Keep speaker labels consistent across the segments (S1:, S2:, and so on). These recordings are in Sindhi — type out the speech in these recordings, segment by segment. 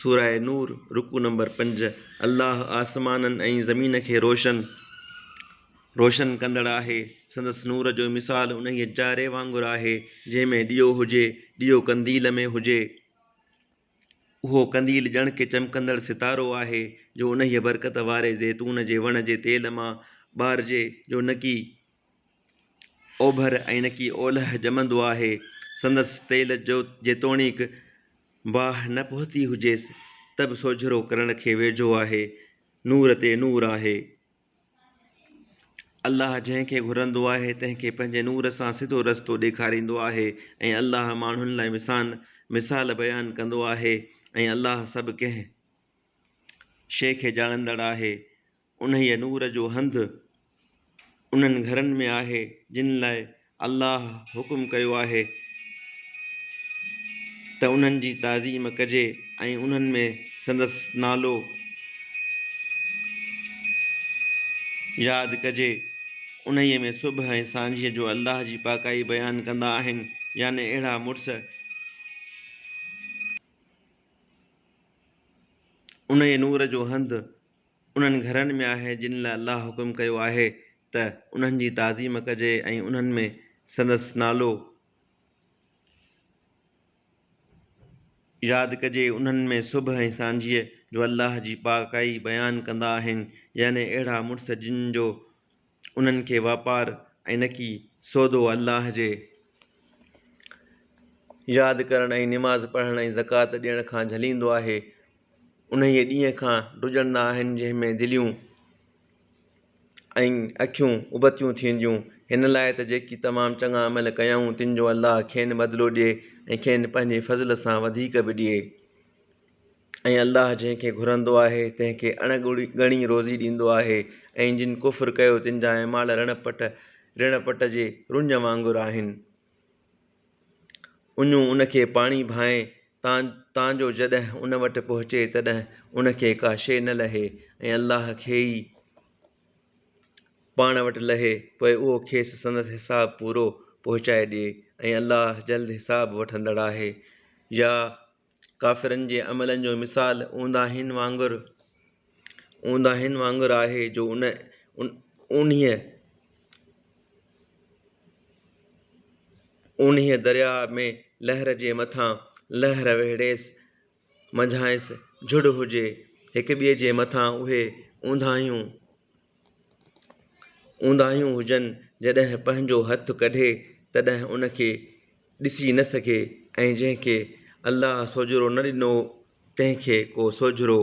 S1: سورة نور، رڪوع نمبر پنج، الله آسمانن ۽ زمين کي روشن، روشن، ڪندڙ آهي، سندس نور جو مثال انهيء جاري وانگر آهي، جنهن ۾ ڏيئو هجي، ڏيئو قنديل ۾ هجي، اهو قنديل ڄڻ ڪي چمڪندڙ ستارو آهي، جو انهيء برڪت واري زيتون جي وڻ جي تيل مان ٻارجي، جو نڪي. اوڀر ائينڪي اولهه ڄمندو آهي. سندس تيل جو جيتوڻيڪ باهه نه پهتي هجيس ته به سوجهرو ڪرڻ کي ويجهو آهي. نور تي نور آهي. الله جنهن کي گهرندو آهي تنهن کي پنهنجي نور سان سڌو رستو ڏيکاريندو آهي ۽ الله ماڻهن لاء وسان مثال بيان ڪندو آهي ۽ الله سڀ ڪنهن شيء کي ڄاڻندڙ آهي. انهيء نور جو هنڌ انهن گهرن ۾ آهي، جن لاء الله حڪم ڪيو آهي ته انهن جي تعظيم ڪجي ۽ انهن ۾ سندس نالو ياد ڪجي. انهيء ۾ صبح ۽ سانجهيء جو الله جي پاڪائي بيان ڪندا آهن، يعني اهڙا مڙس، انهيء نور جو هنڌ، انهن گهرن ۾ آهي جن لاء الله حڪم ڪيو آهي ته انهن جي تعظيم ڪجي ۽ انهن ۾ سندس نالو ياد ڪجي، انهن ۾ صبح ۽ سانجهيء جو الله جي پاڪائي بيان ڪندا آهن، يعني اهڙا مڙس جن جو. انهن کي واپار ۽ نه ڪي سودو الله جي ياد ڪرڻ ۽ نماز پڙهڻ ۽ زڪوات ڏيڻ کان جهليندو آهي انهيء ڏينهن کان ڊڄندا آهن جنهن ۾ دليون ۽ اکيون ابتيون ٿينديون هن لاء ته جيڪي تمام چڱا عمل ڪيائون تن جو الله کين بدلو ڏئي ۽ کين پنهنجي فضل سان وڌيڪ به ڏئي. ۽ الله جنهن کي گهرندو آهي تنهن کي اڻ ڳڻي روزي ڏيندو آهي ۽ جن ڪفر ڪيو تن جا اعمال رڻ پٽ، ريڻ پٽ، جي رڃ وانگر آهن. اڃون ان کي پاڻي ڀانء تان تان جو جڏهن ان وٽ پهچي تڏهن ان کي ڪا شيء نه لهي ۽ الله کي ئي پاڻ وٽ لهي پوء اهو کيس سندس حساب پورو پهچائي ڏئي ۽ الله جلد حساب وٺندڙ آهي. يا ڪافرن جي عملن جو مثال اونداهين وانگر اونداهين وانگر آهي جو ان اونهيء اونهيء درياهه ۾ لهر جي مٿان لهر وهڙيس منجهانئس جهڙ هجي هڪ ٻئي جي مٿان اهي اونداهيون اونداهيون هجن جڏهن پنهنجو هٿ ڪڍي تڏهن ان کي ڏسي نه سگهي ۽ جنهن کي الله سوجهرو نه ڏنو تنهن کي ڪو سوجهرو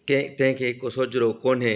S1: تنهن کي ڪو سوجهرو ڪونهي.